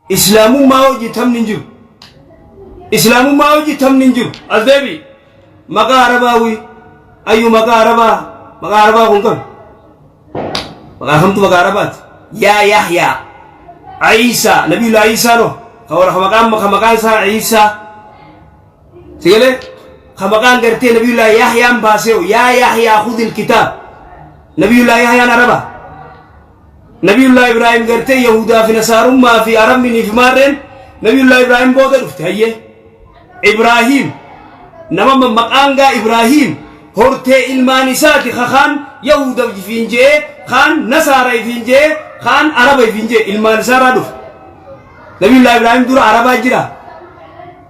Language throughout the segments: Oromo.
Islaamummaa hojii tamni hin jiru. Islaamummaa hojii tamni hin jiru. As deebi. Maqaa Arabaa wii. Ayyu maqaa Arabaa. Maqaa Arabaa kun qabi. Maqaa hamtu maqaa Arabaati. Yaa Yahyaa. Ayiisaa. Nabiyullah Ayiisaa no. Ka warra ka maqaan ka maqaan isaa Ayiisaa. Sigalee ka maqaan gartee Nabiyullah Yahyaan baasee yaa Yahyaa khudil kitaab. Nabiyullah Yahyaan Arabaa. Nabiyullaa Ibraahim gartee Yahudaa fi Nasaarummaa fi Arabni fi maarreen Nabiyullaa Ibraahim booda dhufte hayyee. Ibraahim nama mammaqaangaa Ibraahim hortee ilmaan isaati ka kaan Yahuda ifiin je'ee kaan Nasaara ifiin je'ee kaan Araba ifiin je'e ilmaan isaarraa dhufe. Nabiyullaa Ibraahim dura Arabaa jira.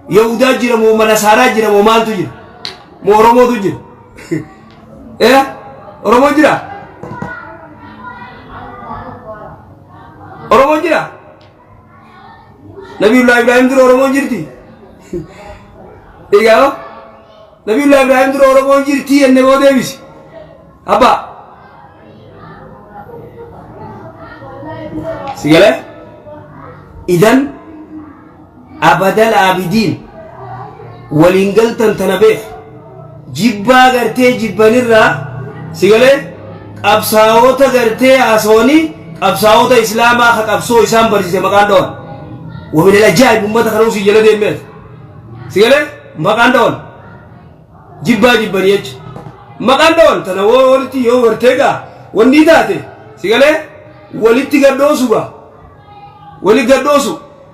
Yahudaa jira moo Nasaaraa jira moo maaltu jira? Moo Oromootu jira? Eera Oromoon jira? Oromoon jira? Nabiyullaa Ibraahim dura Oromoon jirti? Egaa hoo? Nabiyullaa Ibraahim dura Oromoon jirti jennee boo deebisi. Abbaa. Si galee? Idan abadal aabidiin waliin galtan tana beeku jibbaa gartee jibbanirraa si galee qabsaa'oota gartee haasawanii qabsaa'oota islaamaa ka qabsoo isaan barsiise maqaan dhawan wamin alajaa'ibu ummata kana usii jala deemeet si galee maqaan dhawan jibbaa jibbanii jecha maqaan dhawan tana woo walitti yoo gartee gaa wanni taate si galee walitti gaddoosu gaa wali gaddoosu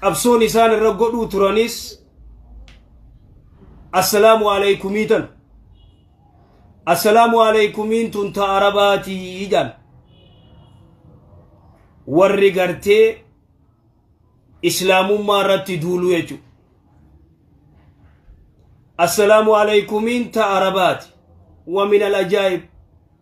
qabsoon isaan irra godhuu turanis assalaamu alaikumii tan assalaamu alaikumiin tun ta arabaatii jaan warri gartee islaamummaa irratti duuluu jechuudha assalaamu alaikumiin ta arabaati wa min al ajaa'ib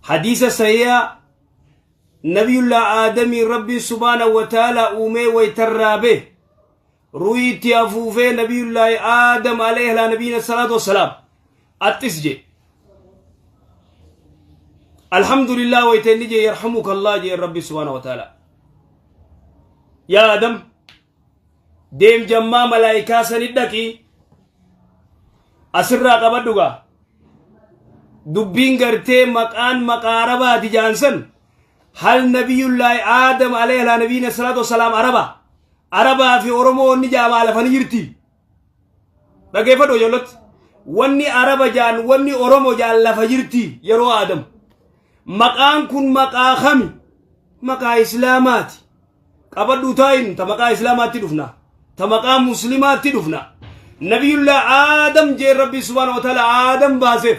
Hadiisa sahiiha Nabiyullaa Aadamiin Rabbiin subhaanahu wa ta'aalaa uumee wayta irraa bahe ruuhii itti afuufee Nabiyullaahi Aadam alayhi alaa nabiyyina salaatu wassalaam axxis jee Alhamdulillah wayta inni jee yarhamuka Allah jee Rabbi subhaanahu wa ta'aalaa yaa Aadam deem jammaa malaayikaa sani dhaqi asirraa qabadhu gaa dubbiin gartee maqaan maqaa arabaati jaansan hal nabiyullaahi aadam alayhi alaa nabiyyina salaatu wasalaam araba arabaa fi oromoo inni jaama alafani jirti Dhageeffadhu ijoollatti. Wanni Araba jaan, wanni Oromo jaan lafa jirti yeroo aadamu. Maqaan kun maqaa kami? Maqaa Islaamaati. Qabadhu taayin ta maqaa Islaamaatti dhufna. Ta maqaa Muslimaatti dhufna. Nabiyullah Aadam jeen Rabbi subhaanahu wa ta'ala Aadam baaseef.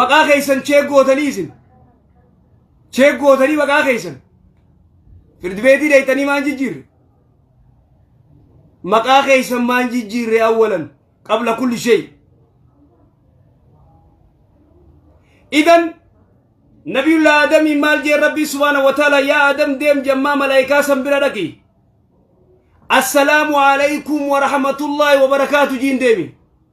maqaa keessan cheek gootanii isin cheek gootanii maqaa keessan firdi beetii deettanii maan jijjiirre maqaa keessan maan jijjiirre awwalan qabla kulli shay idan nabiyullah adamii maal jee rabbii subhaana wa taala yaa adam deem jammaa malaayikaa san bira dhaqi assalaamu alaykum wa rahmatullaahi wa barakaatu jiin deemi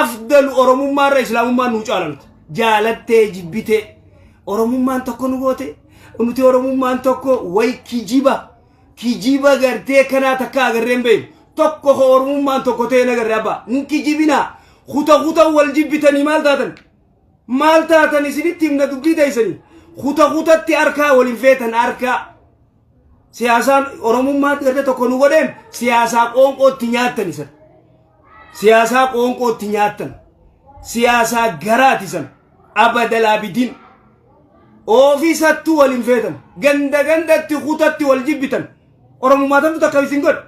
afdalu oromummaa irra islaamummaa nuu caalamte jaalattee jibbitee oromummaan tokko nu goote nuti oromummaan tokko way kijiba kijiba gartee kanaa takka agarree hin beeknu tokko ko oromummaan tokko ta'e nagarree abbaa hin kijibinaa kuta kuta wal jibbitanii maal taatan maal taatan isinitti himna dubbii teessanii kuta kutatti harkaa waliin feetan harkaa siyaasaan oromummaa gartee tokko nu godheen siyaasaa qoonqoo itti nyaattan isan siyaasaa qoonqoo itti nyaattan siyaasaa garaati isan abadalaabidiin oofisattuu wal hin feetan ganda gandatti kutatti wal jibbitan oromummaa tantu takka isin godhe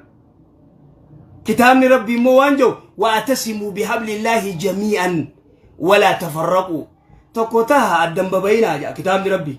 kitaabni rabbii immoo waan jedhu waatasimuu bihablillaahi jamii'an walaa tafarraquu tokko taha addan babayinaa jedha kitaabni rabbii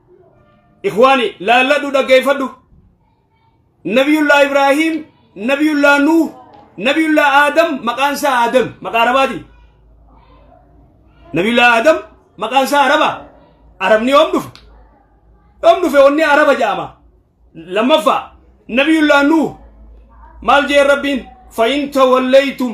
ikhwaani laalladhu dhaggeeffadhu nabiyullaa ibraahiim nabiyullaa nuuh nabiyullaa aadam maqaan isaa aadam maqaa arabaati nabiyullaa aadam maqaan isaa araba arabni yoom dhufe yoom dhufe onni araba ja'ama lammaffaa nabiyullaa nuuh maal jee rabbiin fa'in tawallaytum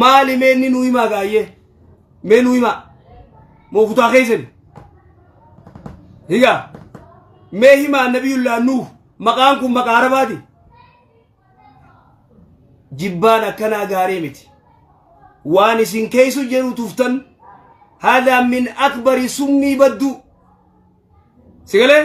maali mee inni nuu himaa gaayyee mee nuu himaa moo kutaa keessani higaa mee himaa nabiyullaa nuuf maqaan kun maqaa arabaati jibbaan akkanaa gaarii miti waan isin keeysu jedhu tuftan haadaa min akbari summii badduu sigalee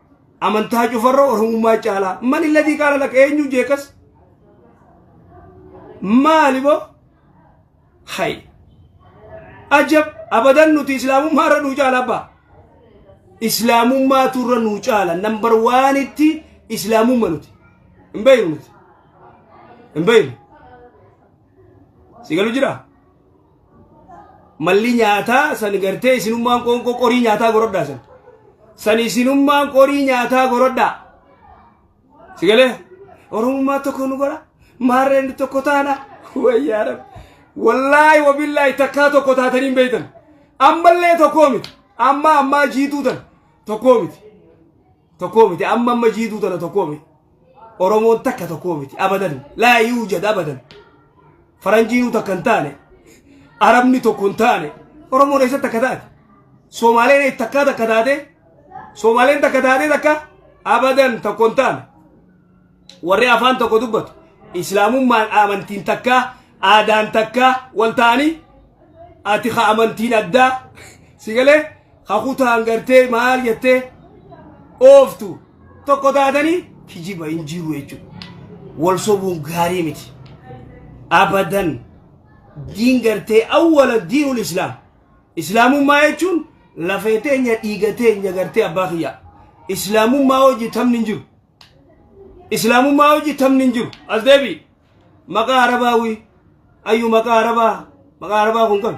Amantaa cufarra Oromummaa caalaa. Man illadii qaala laqa eenyu jeekas? Maali boo? Hay. Ajab abadan nuti islaamummaa irra nuu caala abbaa. Islaamummaatu irra nuu caala. Nambar waanitti islaamumma nuti. Hin beeynu nuti. Hin beeynu. Si galu jiraa? malli nyaataa san gartee isinummaan qoonqoo qorii nyaataa gorodhaa san san isinummaan qorii nyaataa gorodhaa si galee oromummaa tokko nu godha maarreen tokko taana wayyaa rabbi wallaahi wabillaahi takkaa tokko taatanii hin beektan ammallee tokkoo miti amma ammaa jiituu tana tokkoo miti tokkoo miti amma amma jiituu tana tokkoo miti oromoon takka tokkoo miti abadan laa yuujad abadan faranjiinuu takka hin taane arabni tokko hin taane oromoon eessa takka taate soomaaleen takkaa takka taate soomaaleen takka taate takka abadan tokko hin taane warri afaan tokko dubbatu islaamummaan amantiin takkaa aadaan takkaa wal ta'anii ati ka amantiin addaa si galee ha kutaan gartee maal jettee ooftu tokko taatanii kijiba hin jiru jechuudha. Wal sobuun gaarii miti. Abadan diin gartee awwala diinul islaam. Islaamummaa jechuun lafee teenya dhiiga teenya gartee abbaa kiyyaa. Islaamummaa hojii tamni hin jiru. Islaamummaa hojii tamni hin jiru. As deebi'i. Maqaa Arabaa wii. Ayyu maqaa Arabaa. Maqaa Arabaa kun kami?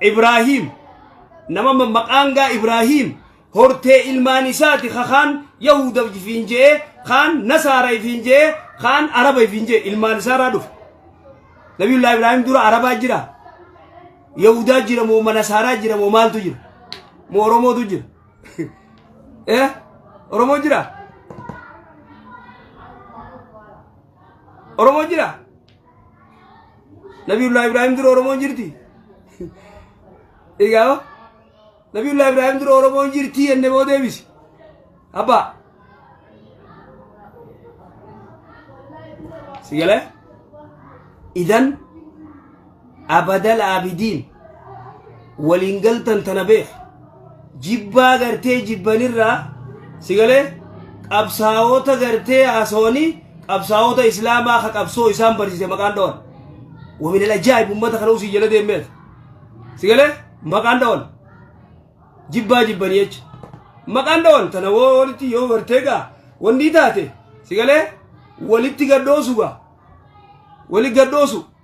Ibraahiim nama maqaangaa Ibraahiim hortee ilmaan isaati ka kaan Yahuda ifiin je'ee kaan Nasaara ifiin je'ee kaan Araba ifiin je'e ilmaan isaaraa dhufe. Nabiyullaa Ibraahiim dura Arabaa jira Yahudaa jira moo Nasaaraa jira moo maaltu jira moo Oromootu jira eh Oromoo jira Oromoo jira. Nabiyullah Ibrahim dura Oromoon jirti. Egaa Nabiyullah Ibrahim dura Oromoon jirti jenne boo deebisi. Abbaa. Si galee? Idan abadal abidiin. waliin galtan tana beek jibbaa gartee jibbanirraa si galee qabsaa'ota gartee haasawanii qabsaa'ota islaamaa ka qabsoo isaan barsiise maqaan dhawan wamin alajaa'ib ummata kana usii jala deemeet si galee maqaan dhawan jibbaa jibbanii jecha maqaan dhawan tana woo walitti yoo gartee gaa wanni taate si galee walitti gadhoosu gaa wali gadhoosu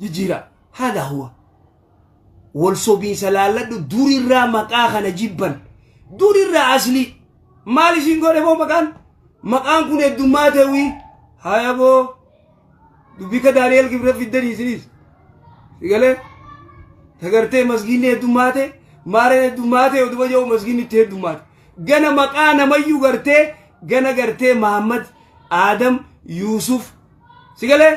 jijjiira hada huwa wal sobiinsa laalladhu durirraa maqaa kana jibban durirraa aslii maal isin godhe boo maqaan maqaan kun heddummaa ta'uyi haya boo dubbika daani'el gibra fiddan isinis sigalee tagartee masgiinni heddummaate maareen heddummaate oduma jedhu masgiinni itti heddummaate gana maqaa namayyuu gartee gana gartee mahammad aadam yuusuf sigalee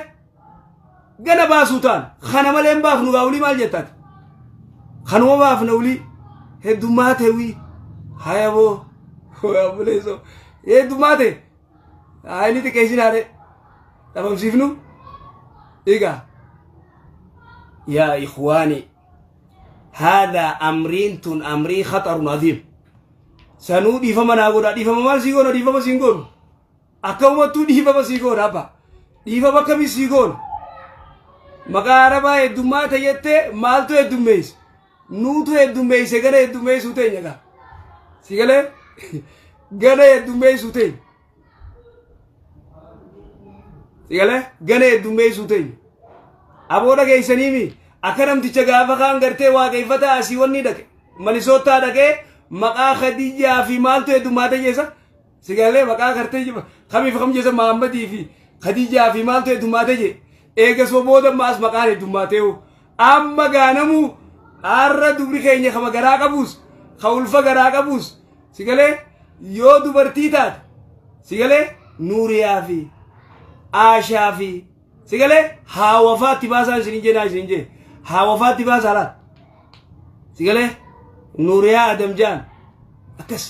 gana baasuu taana kana malee hin baafnu gaa ulii maal jettaati kanuma baafna ulii heddummaa teewii haya boo buleessoo heddummaa tee haa inni xiqqeessin haadhe dhabamsiifnu egaa yaa ikwaani haadaa amriin tun amrii khaxarun aziim sanuu dhiifama naa godhaa dhiifama maal sii goona dhiifama siin goonu Akka umattuu dhiifama sii goona abba. Dhiifama akkamii sii goona? Maqaa arabaa heddummaa ta'e jettee maaltu heddummeesse? Nuutu heddummeesse gana heddummeessuu teenya gaa. Si galee? Gana heddummeessuu teenya. Si galee? Gana heddummeessuu teenya. Aboo dhageessanii mi? Akka namticha gaafa kaan gartee waaqeffataa asii wanni dhaqe. Manisootaa dhaqee maqaa Khadijaa fi maaltu heddummaa ta'e jeessa? Sigaalee maqaa kartee jiba kamiif kam jesa Mahammadii fi Khadijaa fi maaltu heddummaatee jee. Eegasuma booda maas maqaan heddummaatee hoo. Amma gaanamuu har'a dubri keenya kama garaa qabuus ka ulfa garaa qabuus sigalee yoo dubartii taate sigalee nuuriyaa fi aashaa fi Si galee haa wafaatti baasaa isin hin jeenaa isin hin jee. Haa wafaatti baasaa laata. Si galee Nuuriyaa Adam Jaan akkas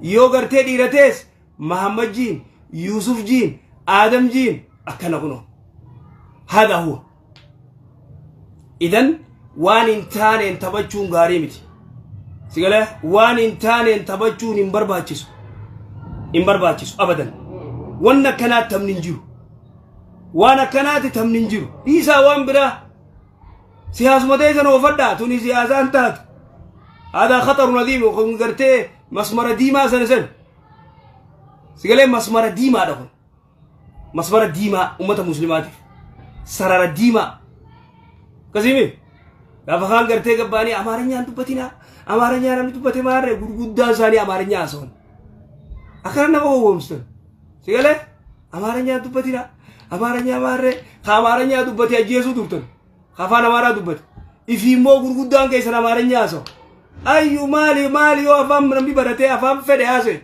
yoo gartee dhiira tees Mahammad Jiin, Yuusuf Jiin, Adam Jiin akkana kunoo. Haadha huwa. Idan waan hin taaneen taphachuun gaarii miti. Si galee waan hin taaneen taphachuun hin barbaachisu. Hin barbaachisu abadan. Wanni akkanaa taphni hin jiru. Waan akkanaati tamni hin jiru. Dhiisaa waan biraa. Siyaasuma teessan oofadhaa tuni siyaasaan taatu. Aadaa khaxaru nadiimu kun gartee masmara diimaa sana sana. Sigalee masmara diimaadha kun. Masmara diimaa uummata muslimaatiif. Sarara diimaa. Akkasimi gaafa kaan gartee gabbaanii amaarinyaan dubbatinaa amaarinyaan namni dubbate maarree gurguddaan isaanii amaarinyaa haasa'an. Akkana nama gowwoomsitan. Si galee? Amaaranyaa dubbatina. Amaaranyaa maarree. Ka Amaaranyaa dubbate ajjeesuu turtan. Ka afaan Amaaraa dubbate. Ifi immoo gurguddaan keessan Amaaranyaa haasa'u. Ayyu maali maali yoo afaan namni baratee afaan fedhe haasa'e.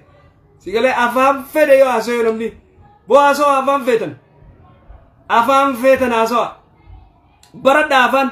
Si galee afaan fedhe yoo haasa'e namni. Boo haasa'u afaan feetan. Afaan feetan haasa'u. Baradha afaan.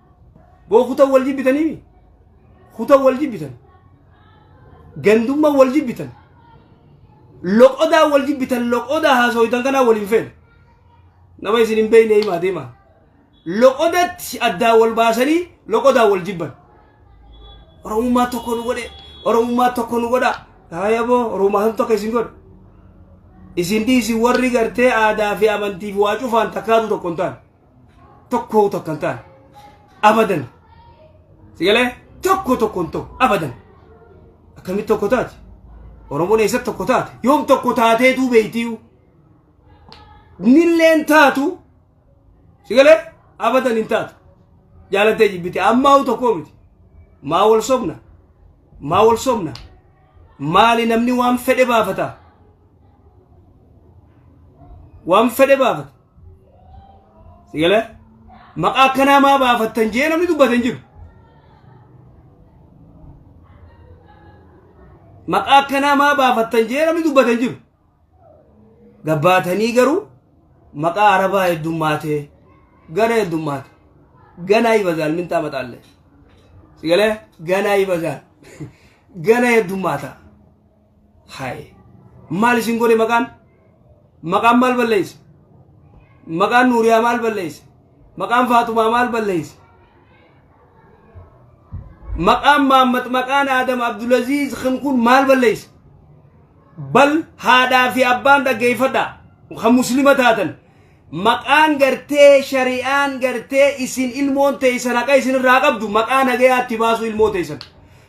boo kutan wal jibbitaniimi kutan wal jibbitan gandumman wal jibbitan loqodaa wal jibbitan loqodaa haasoytan kanaa wal hin feene nama isin hin beeyne himaa deemaa loqodatti addaa wal baasanii loqodaa wal jibban oromummaa tokko nu godhe oromummaa tokko nu godha haayaboo oromummaa san tokko isin godha isin dhiisi warri gartee aadaa fi amantiif waa cufaan takkaatu tokko hin taane tokkoo tokko hin taane abadan sigalee tokko tokko hin ta'u abadan akkamitti tokko taate oromoon eessatti tokko taate yoom tokko taateetuu beeytiiyu nilleen taatu sigalee abadan hin taatu jaalattee jibbite ammaa tokkoo miti maa wal sobna maa wal sobna maali namni waan fedhe baafata waan fedhe baafata Sigale maqaa akkanaa maa baafattan jee namni dubbate hin jiru. Maqaa akkanaa maa baafattan jee namni dubbate hin jiru. Gabbaatanii garuu maqaa arabaa heddummaatee gana heddummaate ganaa ibazaal mintaa maxaallee. Sigale ganaa ibazaal gana heddummaata. Haye. Maal isin godhe maqaan? Maqaan maal balleesse? Maqaan Nuuriyaa maal balleesse? Maqaan Faatumaa maal balleesse? Maqaan Maammat maqaan Aadam Abdulaziz kan kun maal balleesse? Bal haadhaa fi abbaan dhaggeeffadhaa kan muslima taatan maqaan gartee shari'aan gartee isin ilmoon teessan haqa isin irraa qabdu maqaa nagayaatti baasu ilmoo teessan.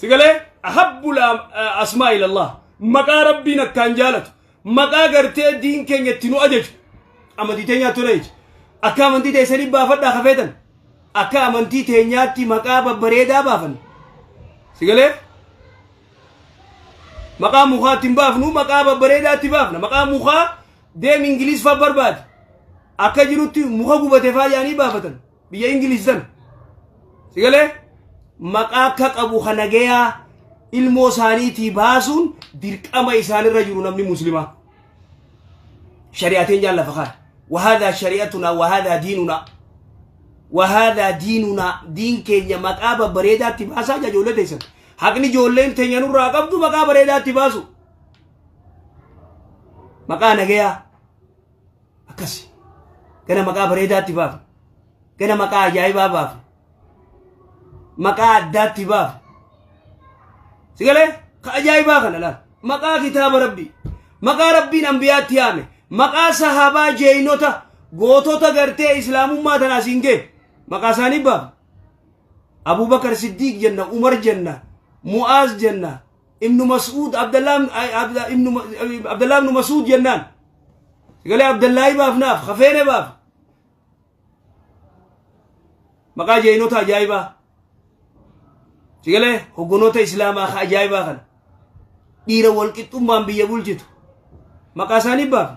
sigalee ahabbu asmaa ilallah maqaa rabbiin akkaan jaalatu maqaa gartee diin keenya itti nu ajaju amantii teenyaa ture jechi akka amantii teessanii baafadhaa kafeetan akka amantii teenyaatti maqaa babbareedaa baafan sigalee maqaa mukaa ittiin baafnu maqaa babbareedaa itti baafna maqaa mukaa deem ingiliis faa barbaade akka jirutti muka gubate faa yaanii baafatan biyya ingiliish san si galee maqaa akka qabu ka nagayaa ilmoo isaaniitii baasuun dirqama isaanirra jiru namni muslimaa shari'ateen jaallafa kaan wahaadaa shari'atunaa wahaadaa diinunaa wahaadaa diinunaa diin keenya maqaa babbareedaatti baasaa jaa ijoollee teessan haqni ijoolleen teenya nurraa qabdu maqaa bareedaatti baasu maqaa nagayaa akkasi gana maqaa bareedaatti baafna gana maqaa ajaa'ibaa baafna maqaa addaatti baafna si galee ka ajaa'ibaa kana laal maqaa kitaaba rabbii maqaa rabbiin ambiyaatti yaame maqaa sahaabaa jeeynota gootota gartee islaamummaa tana asiin gee maqaa isaanii baafna abubakar siddiiq jenna umar jenna mu'aaz jenna ibnu mas'uud abdallaa abdallaa ibnu mas'uud jennaan galee abdallaahi baafnaaf hafeene baaf maqaa jeeyinota ajaa'ibaa sigalee hoggonoota islaamaa ka ajaa'ibaa kana dhiira walqixxummaan biyya bulchitu maqaa isaanii baafna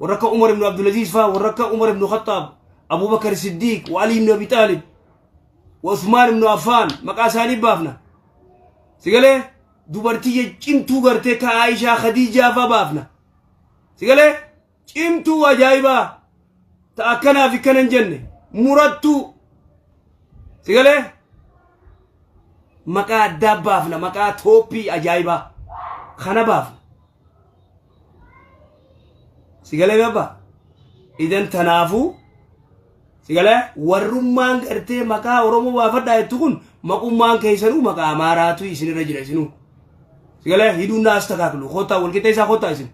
warra akka umar ibnu abdulaziiz faa warra akka umar ibnu khaxaab abubakar siddiiq wa alii ibnu abi xaalib Usmaan ibnu Affaan maqaa isaanii baafna. Sigalee dubartii cimtuu gartee ka Aishaa Khadiijaa faa baafna. Sigalee cimtuu ajaa'ibaa ta akkanaaf akkana hin jenne murattuu. Sigalee maqaa addaa baafna maqaa tooppii ajaa'ibaa kana baafna. sigalee baba idan tanaafuu sigalee warrummaan gartee maqaa oromoo baafadhaa jettu kun maqummaan keessanuu maqaa amaaraatu isinirra jira isinuu sigalee hidhuun naas takaaklu koottaa walqixxeessaa koottaa isin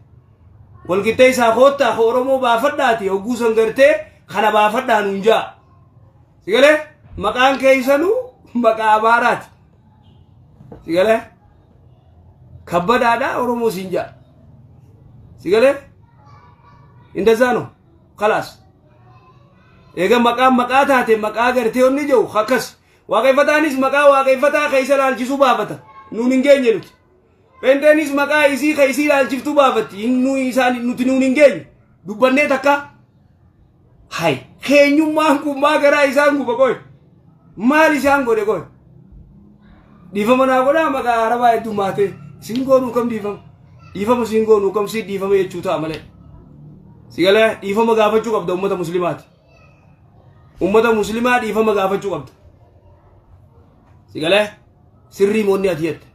walqixxeessaa koottaa ka oromoo baafadhaati hogguu san gartee kana baafadhaa nuun jaa sigalee maqaan keessanuu maqaa amaaraati Si galee? Kabbadaadhaa Oromoo siin ja'a. Si galee? Indazaa no? Kalaas. Eega maqaan maqaa taate maqaa gartee onni jiru akkas. Waaqeffataanis maqaa waaqeffataa keessa ilaalchisuu baafata. Nuun hin geenye nuti. Pheenxeenis maqaa isii ka isii ilaalchiftu baafatti. Hin nuyi isaan nuti nuun hin geenye. Dubbannee takka. Hay keenyummaan kun maa garaa isaan guba qoy. Maal isaan godhe qoy. Dhiifama naa godhaa maqaa arabaa hedduu maatee. Siin goonuu kam dhiifama. Dhiifama siin goonuu kam siin dhiifama jechuu ta'a malee. Sigalee dhiifama gaafachuu qabda uummata muslimaati. Uummata muslimaa dhiifama gaafachuu qabda. Sigalee sirrii moonni ati jette.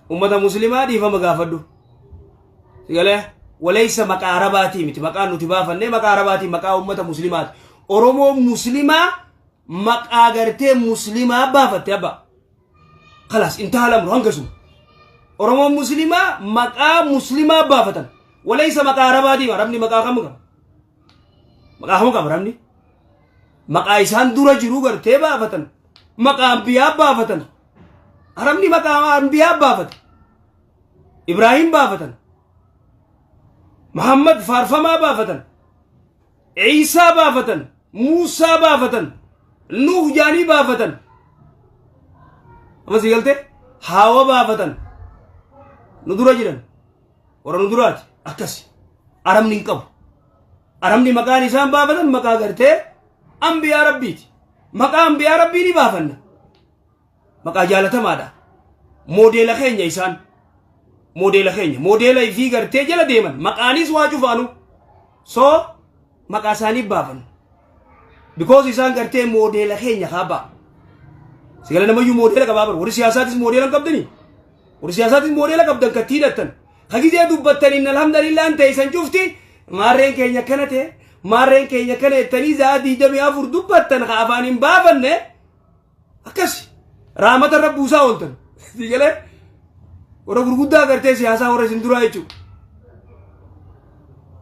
ummata muslimaa dhiifama gaafadhu galee waleessa maqaa arabaatii miti maqaa nuti baafannee maqaa arabaatii maqaa ummata muslimaati oromoo muslimaa maqaa gartee muslimaa baafatte abba kalaas intaalamru hangasuma oromoo muslimaa maqaa muslimaa baafatan waleessa maqaa arabaatii arabni maqaa kam qaba maqaa kam qaba arabni maqaa isaan dura jiruu gartee baafatan maqaa anbiyaa baafatan arabni maqaa anbiyaa baafate ibraahim baafatan muhammad faarfamaa baafatan ciisaa baafatan muusaa baafatan nuuh jaanii baafatan amasi galte haawa baafatan nu dura jiran warra nu duraati akkasi arabni hin qabu Arabni maqaan isaan baafatan maqaa gartee ambiyaa rabbiiti. Maqaa ambiyaa rabbii ni baafanna. Maqaa jaalatamaadha. Moodeela keenya isaan. Moodeela keenya. Moodeela fi gartee jala deeman. Maqaanis waa cufaanu. So maqaa isaanii baafanna. Because isaan gartee moodeela keenya kaabaa. Sigala namayyuu moodeela qabaa bara. Warri siyaasaatis moodeela hin qabdanii. Warri siyaasaatis moodeela qabdan kattii hidhattan. Ka gizee dubbattaniin alhamdulillaan teeysan cufti maarreen keenya akkana ta'e maarreen keenya akkana jettanii za'a diidamii afur dubbattan ka afaan hin baafanne akkas raamata irra buusaa ooltan. Sii galee warra gurguddaa agartee siyaasaa warra isin duraa jechuudha.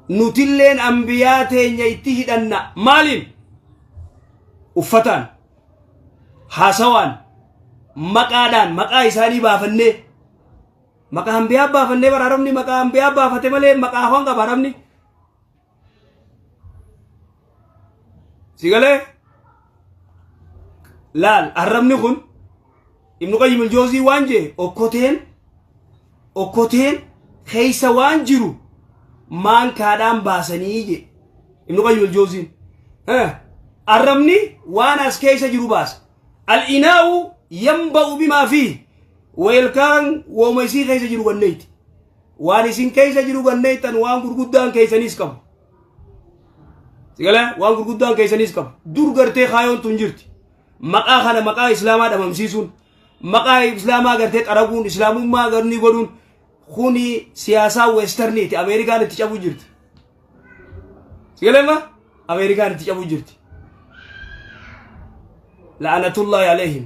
Nutilleen ambiyaa teenya itti hidhanna maaliin? Uffataan, haasawaan, maqaadhaan maqaa isaanii baafannee Maqaa anbiyaa baafannee bara Arabni maqaa anbiyaa baafate malee maqaa afaan qaba Arabni. Si galee? Laal Arabni kun Ibnu Qayyim Iljoozii waan jee okkoteen okkoteen keessa waan jiru maankaadhaan baasanii jee Ibnu Qayyim Iljooziin. Arabni waan as keessa jiru baasa. Al-inaa'u yanba'u bimaa fi Weelkaan wooma isii keessa jiru ganneeyti. Waan isin keessa jiru ganneeytan waan gurguddaan keessaniis qabu. Sigala waan gurguddaan keessaniis qabu. Dur gartee kaayoon tun jirti. Maqaa kana maqaa islaamaa dhabamsiisuun maqaa islaamaa gartee xaraguun islaamummaa garni godhuun kuni siyaasaa weestarniiti Ameerikaan itti cabuu jirti. Sigalema Ameerikaan itti cabuu jirti. La'anatullaahi aleehim.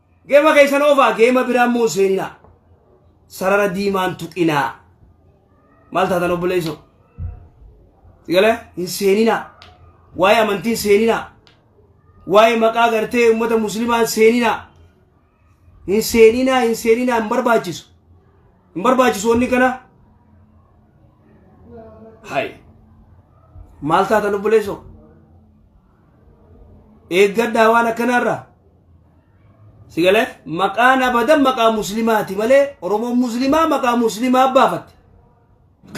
Geema keessan oofaa geema biraa immoo hin seeninaa. Sarara diimaan tuqinaa. Maal taatan obboleessoo? Sigala hin seeninaa. Waa'ee amantiin seeninaa. Waa'ee maqaa gartee uummata musliimaa hin seeninaa. Hin seeninaa hin seeninaa hin barbaachisu. Hin barbaachisu wanni kana. Hai. Maal taatan obboleessoo? eeggadhaa waan akkanaarraa si galee maqaan abadan maqaa muslimaati malee oromoon muslimaa maqaa muslimaa baafatte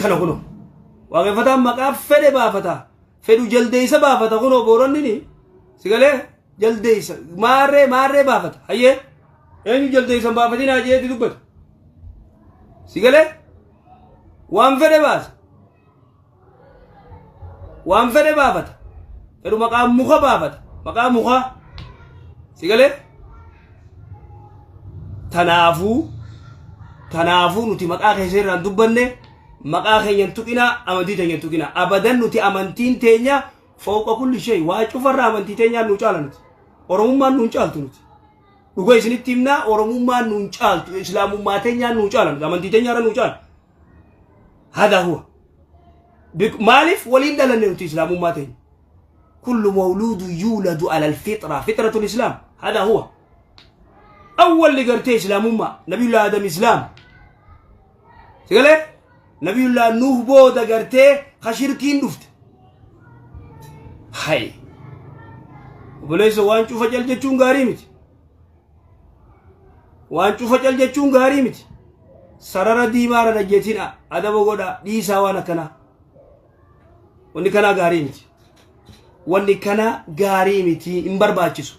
kana kuno waaqeffataan maqaa fedhe baafata fedhu jaldeeysa baafata kuno booronnini si galee jaldeeysa maarree maarree baafata hayyee eenyu jaldeeysan baafatinaa jeeti dubbata si galee waan fedhe baasa waan fedhe baafata fedhu maqaa muka baafata maqaa mukaa si galee tanaafuu tanaafuu nuti maqaa keessa irraan dubbanne maqaa keenyan tuqinaa amantii teenyan tuqinaa abadan nuti amantiin teenya fooqa kulli shay waa cufarraa amantii teenyaan nu caala nuti oromummaan nuun caaltu nuti dhuga isinitti himnaa oromummaan nuun caaltu islaamummaa teenyaan nuu caala nuti amantii teenyaarra nuu caala hadaa huwa Bik- maaliif waliin dhalanne nuti islaamummaa teenya kullu mawluudu yuuladu alal fixra fixratul islaam hadaa huwa awwalli gartee islaamummaa nabiyullah adam islaam sigalee nabiyullah nuuh booda gartee ka shirkiin dhufte hay obboleessa waan cufa cal jechuun gaarii miti waan cufa cal jechuun gaarii miti sarara diimaa irra dhajjetina adaba godha dhiisaa waan akkanaa wanni kanaa gaarii miti wanni kanaa gaarii miti hin barbaachisu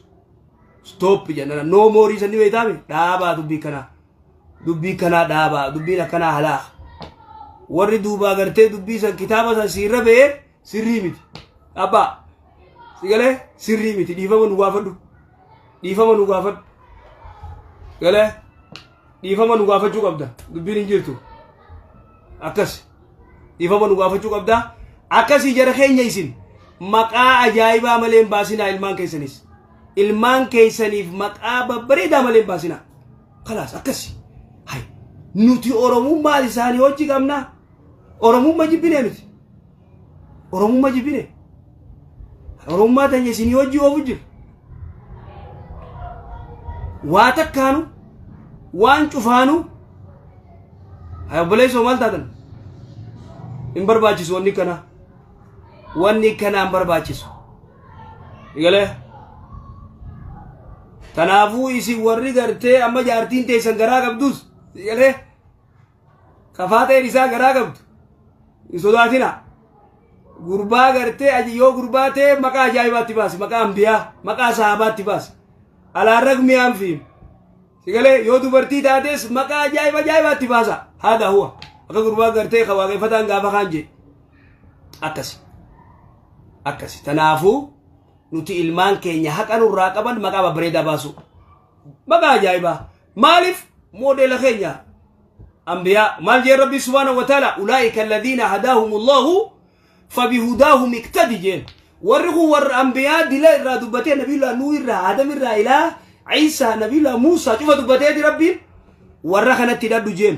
stop jennana no more isa ni beektaame dhaabaa dubbii kanaa dubbii kanaa dhaabaa dubbiin akkanaa halaa warri duubaa gartee dubbii san kitaaba san siirra ba'ee sirrii miti abbaa sigalee sirrii miti dhiifama nu gaafadhu dhiifama nu gaafadhu galee dhiifama nu gaafachuu qabda dubbiin hin jirtu akkas dhiifama nu gaafachuu qabda akkasii jara keenya isin maqaa ajaa'ibaa malee hin baasinaa ilmaan keessanis ilmaan keessaniif maqaa babbareedaa malee hin baasinaa kalaas akkasi hay nuti oromummaa isaanii hojii qabnaa Oromummaa jibbinee nuti. Oromummaa jibbinee. Oromummaa teenya isinii hojii oofu jiru. Waa takkaanu waan cufaanu haa obboleessoo maal taatan hin barbaachisu wanni kanaa. Wanni kanaa hin barbaachisu. Egalee. Kanaafuu isin warri gartee amma jaartiin teessan garaa qabdus egalee. Kafaateen isaa garaa qabdu. Hin sodaatina. Gurbaa gartee aji yoo gurbaa ta'e maqaa ajaa'ibaatti baasi. Maqaa ambiyaa, maqaa sahaabaatti baasi. Alaan ragmii anfiin. Sigalee yoo dubartii taates maqaa ajaa'iba ajaa'ibaatti baasa. Haadha huwa. Akka gurbaa gartee kan waaqeffataan gaafa kaan jedhe. Akkasi. Akkasi. Tanaafuu nuti ilmaan keenya haqa nurraa qaban maqaa babbareedaa baasuu. Maqaa ajaa'ibaa. Maalif moodeela keenya ambiyaa maal jeen rabbii subhaana wa taala ulaa'ika alladhiina hadaahumullahu fabihudaahum iktadi jeen warri kun warra ambiyaa dila irraa dubbatee nabiyullah nuu irraa adam irraa ilaa ciisaa nabiyullah muusaa cufa dubbateeti rabbiin warra kanatti hidhadhu jeen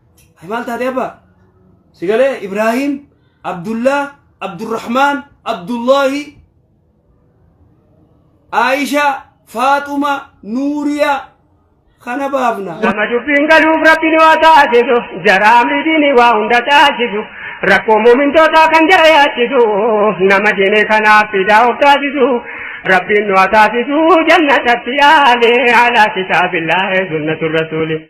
Ay maal taate abbaa? Si galee Ibraahiim, Abdullaa, Abdurrahmaan, Abdullaahi, Aayishaa, Faaxuma, Nuuriyaa kana baafna. Nama dubbiin galuuf rabbiin waa taasisu jaraa amriitiin waa hunda taasisu rakkoo muumintootaa kan jara yaachisu nama diinee kanaaf fidaa of taasisu rabbiin waa taasisu jannatatti yaale alaa kitaabillaahi sunnatu rasuuli.